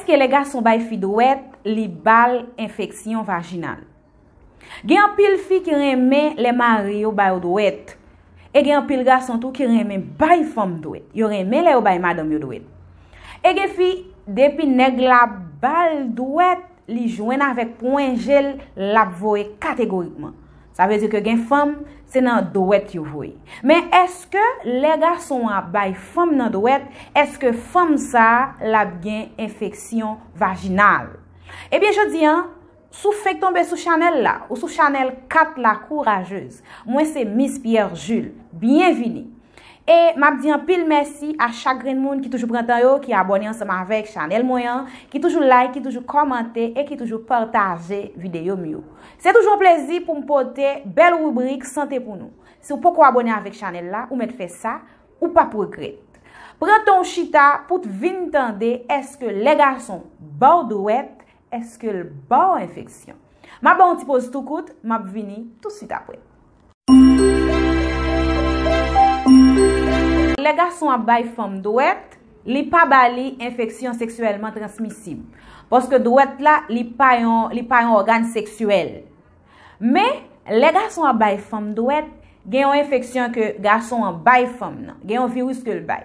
Èske lè gason bay fi dwèt li bal enfeksyon vajinal? Gen anpil fi ki renmen lè mari yo ba yo dwèt. E gen anpil gason tou ki renmen bay fanm dwèt. Yo renmen lè yo bay madanm yo dwèt. E gen fi, depi nèg la bal dwèt, li jwenn avèk pwen je l, l ap voye kategorikman. Sa vle di ke gen fanm, se nan dwèt yo voye. Men eske lè gason an ap bay fanm nan dwèt, eske fanm sa l ap gen enfeksyon vajinal? Ebyen jodi an, si w fenk tonbe sou chanèl la, ou sou chanèl 4 la kourajez. Mwen se Miss Pierre Jules. Byenvini! E m ap di anpil mèsi a chak grenn moun ki toujou pran tan yo, ki abòne ansanm avèk chanèl mwen an, ki toujou like, ki toujou kòmante e ki toujou pataje videyo m yo. Se toujou yon plezi pou m pote bèl ribrik sante pou nou. Si w poko abone avèk chanèl la, ou mèt fè sa, ou pap regrèt. Pran tan w chita pou t vin tande èske lè gason ba w dwèt, èske l ba w enfeksyon. M ap ba w yon ti poz tou kout, m ap vini tousuit apre. Lè gason ap bay fanm dwèt, li pa ba li enfeksyon seksyèlman transmisib. Paske dwèt la, li pa yon ògàn seksyèl. Men, lè gason ap bay fanm dwèt, gen yon enfeksyon ke gason an bay fanm nan. Gen yon viris ke l bay.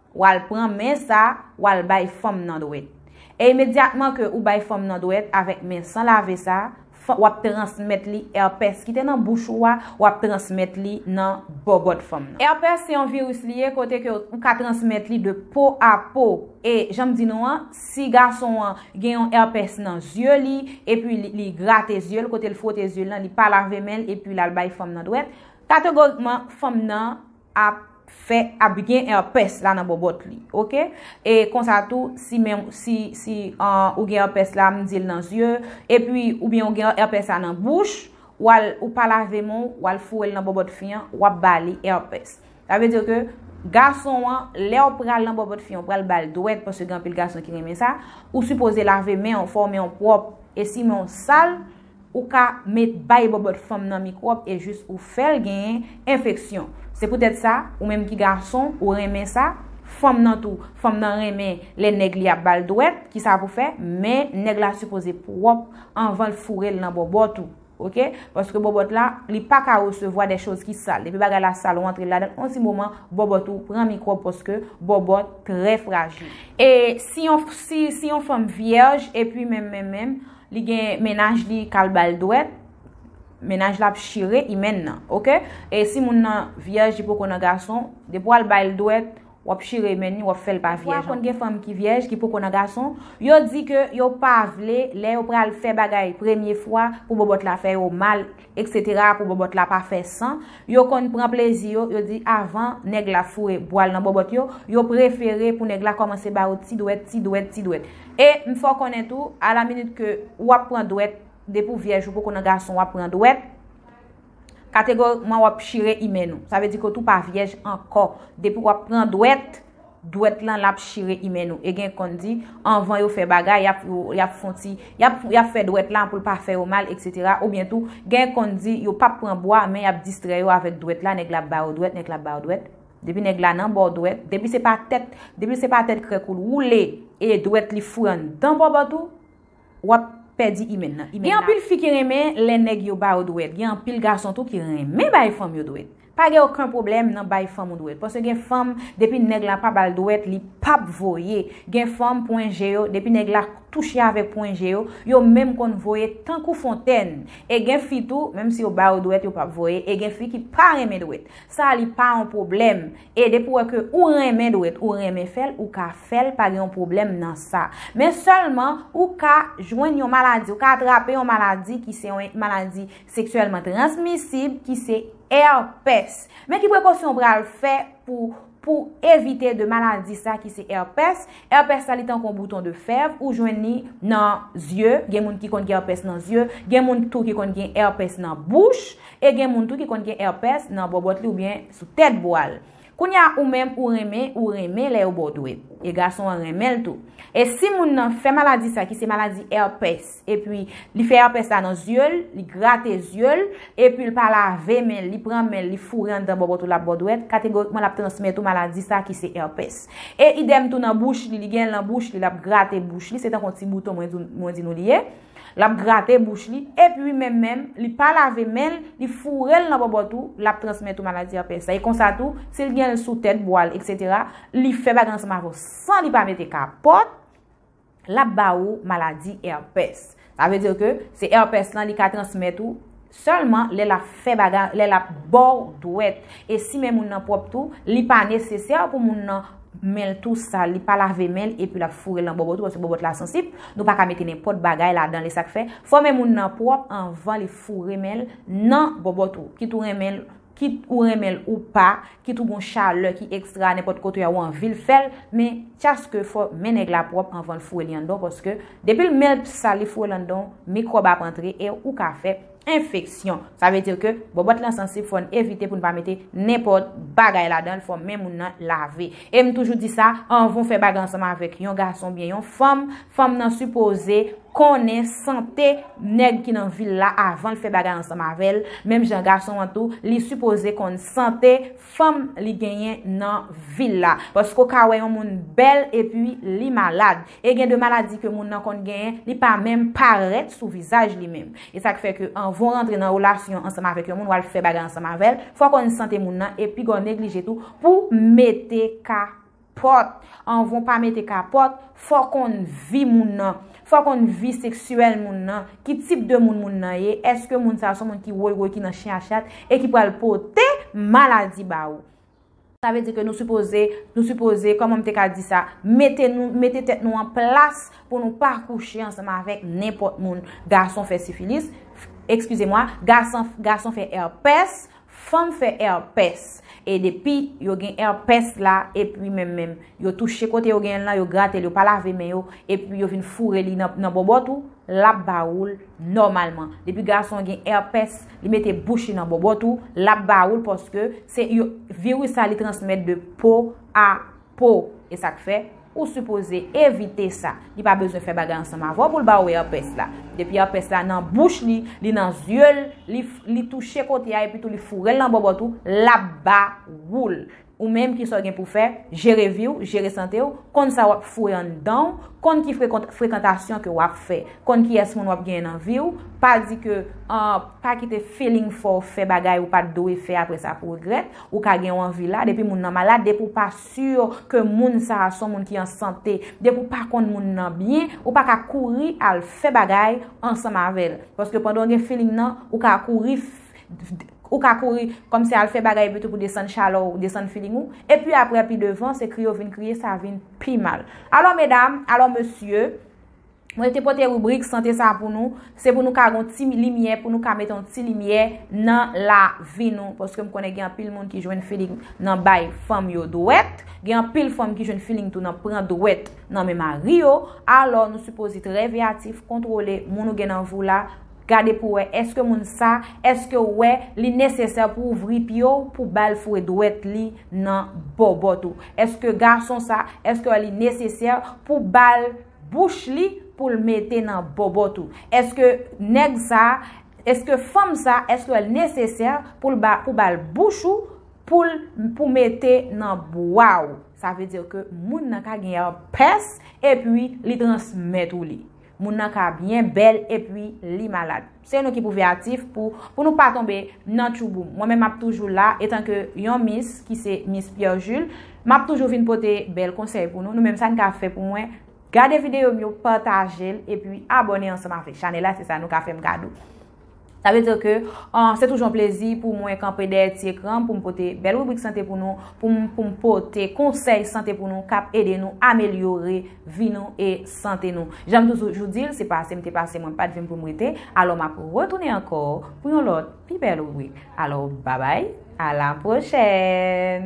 Wal pran men sa, wal bay fanm nan dwèt. E imedyatman ke ou bay fanm nan dwèt avèk men san lave sa, fan, wap transmèt li èpès ki te nan bouch ou a, wap transmèt li nan bòbòt fanm nan. Èpès se yon viris li ye kote ke ou ka transmèt li de po a po. E janm di nou an, si gason an gen yon èpès nan zye li, epi li, li grate zye l, kote l fwote zye l lan, li pa lave men l epi lal bay fanm nan dwèt, kategorikman fanm nan. ap fè ap gen èpès la nan bòbòt li ok e konsa tou si menm si si an ou gen èpès la m dil nan zye epi ou byen ou gen èpès la nan bouch wal ou pa lave men w wal foure l nan bòbòt fi an wap ba li èpès sa vle di ke gason an lèw pral nan bòbòt fi an ou pral bal dwèt paske gen anpil gason ki renmen sa ou sipoze lave men w fè w men w pwòp e si men w sal Ou ka met bay bòbòt fanm nan mikwòb e jis ou fè l gen enfeksyon. Se poutèt sa, ou menm ki gason, ou renmen sa, fanm nan tou, fanm nan renmen lè nèg li ap ba l dwèt, ki sa pou fè, men nèg la sipoze pwòp anvan l foure l nan bòbòt ou. Ok, paske bòbòt la, li pa ka resevwa dè choz ki sal. Depi bagay la sal ou antre l ladan l, on ti moman, bòbòt ou pran mikwòb paske bòbòt trè frajil. E si yon, si, si yon fanm vyèj, epi menm menm menm, Li gen mennaj li kal bal dwèt, mennaj la ap chire hymen nan ok e si moun nan vyèj li poko nan gason depi wal bayl dwèt wap chire hymen ni wap fèl pa vyèj ankò. Pafwa konn gen fanm ki vyèj ki poko nan gason, yo di ke yo pa vle lè yo pral fè bagay premye fwa pou bòbòt la fè yo mal, Etc pou bòbòt la pa fè san, yo konn pran plezi yo, yo di avan nèg la foure bwal nan bòbòt yo, yo prefere pou nèg la kòmanse ba yo ti dwèt, ti dwèt, ti dwèt. E, m fè w konnen tou, a la minit ke ou ap pran dwèt, depi w vyèj ou poko nan gason w ap pran dwèt, kategorikman w ap chire imèn ou. Sa vle di ke w tou pa vyèj ankò, depi w ap pran dwèt. dwèt lan lap chire imen nou e gen konn di anvan yo fè bagay yap yap fon ti yap yap fè dwèt la poul pa fè yo mal etc ou byen tou gen konn di yo pap pran bwa men yap distrè yo avèk dwèt la nèg la ap ba yo dwèt nèg la ap ba yo dwèt depi nèg la nan baw dwèt depi se pa tèt depi se pa tèt krèk oul woule e dwèt li foure anndan bòbòt ou wap pèdi imèn nan. Gen anpil fi ki renmen lè nèg yo ba yo dwèt, gen anpil gason tou ki renmen bay fanm yo dwèt. Pa gen oken pwoblèm nan bay fanm ou dwèt, paske gen fanm depi nèg la pa bal dwèt li pap voye, gen fanm pwen je yo depi nèg la touche avèk pwen je yo, yo menm konn voye tankou fontèn, e gen fi tou menm si yo ba yo dwèt yo pap voye, e gen fi ki pa renmen dwèt. Sa li pa yon pwoblèm. E depi ou wè ke ou renmen dwet, ou renmen fèl, ou ka fèl, pa gen yon pwoblèm nan sa. Men sèlman, ou ka jwenn yon maladi, ou ka atrape yon maladi ki se yon maladi seksyèlman transmisib ki se herpès. Men ki prekosyon ou pral fè pou pou evite de maladi sa ki se herpès. Herpès sa li tankou yon bouton de fèv, ou jwenn li nan zye, gen moun ki konn gen herpès nan zye, gen moun tou ki konn gen herpès nan bouch, e gen moun tou ki konn gen herpès nan bòbòt li oubyen. Sou tèt bwa l. Kounye a ou menm ou renmen ou renmen lè yo ba w dwèt. E gason an renmen l tou. E si moun nan fè maladi sa ki se maladi èpès epi li fè èpès la nan zye l, li grate zye l, epi l pa lave men l, li pran men l, li foure anndan bòbòt ou l ap ba w dwèt, kategorikman l ap transmèt ou maladi sa ki se èpès. E idèm tou nan bouch li, li gen l nan bouch li, l ap grate bouch li, se tankou yon ti bouton mwen di nou li ye. Lap grate bouch li, ep ui menm menm li pa lave menl li fourel nan bòbòt ou lap transmèt ou maladi èpès la e konsa tou sil genl sou tèt bwal etc li fè bagay ansanm avèw san li pa mete kapòt lap ba ou maladi èpès sa vle dir ke se èpès lan li ka transmèt ou Sèlman lè lap fè bagay lè lap baw dwèt e si men moun nan pwòp tou li pa nesesè pou moun nan menl tou sal li pa lave menl epi lap fourel nan bòbòt ou paske bòbòt la sansib nou paka mete nenpòt bagay ladanl esak fè fò men moun nan pwòp anvan li foure menl nan bòbòt ou ki tou renmenl Kit ou renmen l ou pa, kit ou gon chalè ki ekstra nenpòt kote a ou anvi l fè l, men tchaske fò men nèg la pwòp anvan l foure li anndan w paske depi l men l p sal li foure l anndan w mikwòb ap antre e ou ka fè enfeksyon. Sa vle di ke bòbòt lan sansib fò n evite pou n pa mete nenpòt bagay ladan l fò men moun nan lave. E m toujou di sa, anvan w fè bagay ansanm avèk yon gason oubyen yon fanm, Fanm nan sipoze konnen sante nèg ki nan vil la avan l fè bagay ansanm avè l, menm jan gason an tou, li sipoze konn sante fanm li genyen nan vil la. Paske w ka wè yon moun bèl epi li malad. E gen de maladi ke moun nan konn genyen, li pa menm parèt sou vizaj li menm. E sa k fè ke anvan w rantre nan relasyon ansanm avèk yon moun, w al fè bagay ansanm avè l, fò w konn sante moun nan e pi gwa w neglije tou pou w mete ka Pòt, anvan w pa mete kapòt, fò w konn vi moun nan. Fò w konn vi seksyèl moun nan, ki tip de moun moun nan ye, èske moun sa a son moun ki woy woy, ki nan chen a chat, e ki pral pote maladi ba ou. Sa vle di ke nou sipoze, nou sipoze, kòman m te ka di sa, mete nou, mete tèt nou an plas pou nou pa kouche ansanm avèk nenpòt moun. Gason fè sifilis, ekskize mwa, gason, gason fè èpès, Fanm fè èpès e depi yo gen èpès la epi menm menm yo touche kote yo genyenl lan yo gratel yo pa lave men yo epi yo vin foure li nan bòbòt ou lap ba oul nòmalman depi gason an gen èpès li mete bouch li nan bòbòt ou lap ba oul paske se yo viris la li transmèt de po a Po, e sak fè ou sipoze evite sa. Li pa bezwen fè bagay ansanm avè w pou l ba ou èpès la. Depi èpès la nan bouch li, li nan zye l, li touche kote a epitou li foure l nan bòbòt ou, l ap ba ou l. Ou menm ki sa w gen pou w fè, jere vi w, jere sante w, konn sa w ap foure anndan w, konn ki frekantasyon ke w ap fè, konn kiyès moun w ap genyen nan vi w, pa di ke pa kite feeling fè w fè bagay ou pat dwe fè aprè sa pou regrèt. Ou ka gen yon anvi la, depi moun nan malad, depi ou pa sur ke moun sa a son moun ki an sante, depi ou pa konn moun nan byen, ou pa ka kouri al fè bagay ansanm avè l. Paske pandan ou gen feeling nan, ou ka kouri, ou ka kouri kòm si al fè bagay epitou pou desann chalè w, desann feeling ou. Epi aprè pi devan, se kriye ou vin kriye, sa vin pi mal. Alò medam, alò mesye. Mwen te pote rubrik sante sa pou nou, se pou nou ka gon ti limyè, pou nou ka mete yon ti limyè nan la vi nou. Paske m konnen gen an pil moun ki jwenn feeling nan bay fanm yo dwèt, gen an pil fanm ki jwenn feeling tou nan pran dwèt nan men mari yo. Alò nou sipoze trè veyatif, kontwole moun ou gen nan vi w la, gade pou wè eske moun sa, eske w wè li nesesè pou w ouvri pye w pou ba l foure dwèt li nan bòbòt ou. Eske gason sa, eske w wè li nesesè pou ba l. bouch li poul mete nan bòbòt ou eske nèg sa eske fanm sa eskel nesesè poul ba pou bal bouch ou poul pou mete nan bwa ou sa vle dire ke moun nan ka gen èrpès epi li transmèt ou li moun nan ka byen bèl epi li malad. Se nou ki pou veyatif pou pou nou pa tonbe nan tchouboum. Mwen menm map toujou la etanke yon mis ki se mis Pierre Jules, map toujou vin pote bèl konsèy pou nou. Nou menm sa n ka fè pou mwen, gade videyo m yo, pataje l epi abòne ansanm avèk chanèl la se sa nou ka fè m kado. Sa vle di ke se toujou yon plezi pou mwen kanpe dèyè ti ekran m pou m pote bèl ribrik sante pou nou, pou m pou m pote konsèy sante pou nou kap ede nou amelyore. vi nou e sante nou. Jan m toujou di l, se pase m te pase mwen pa t vin pou m rete, alò m ap retounen ankò pou yon lòt pi bèl ribrik. Alò babay, a la pwochèn!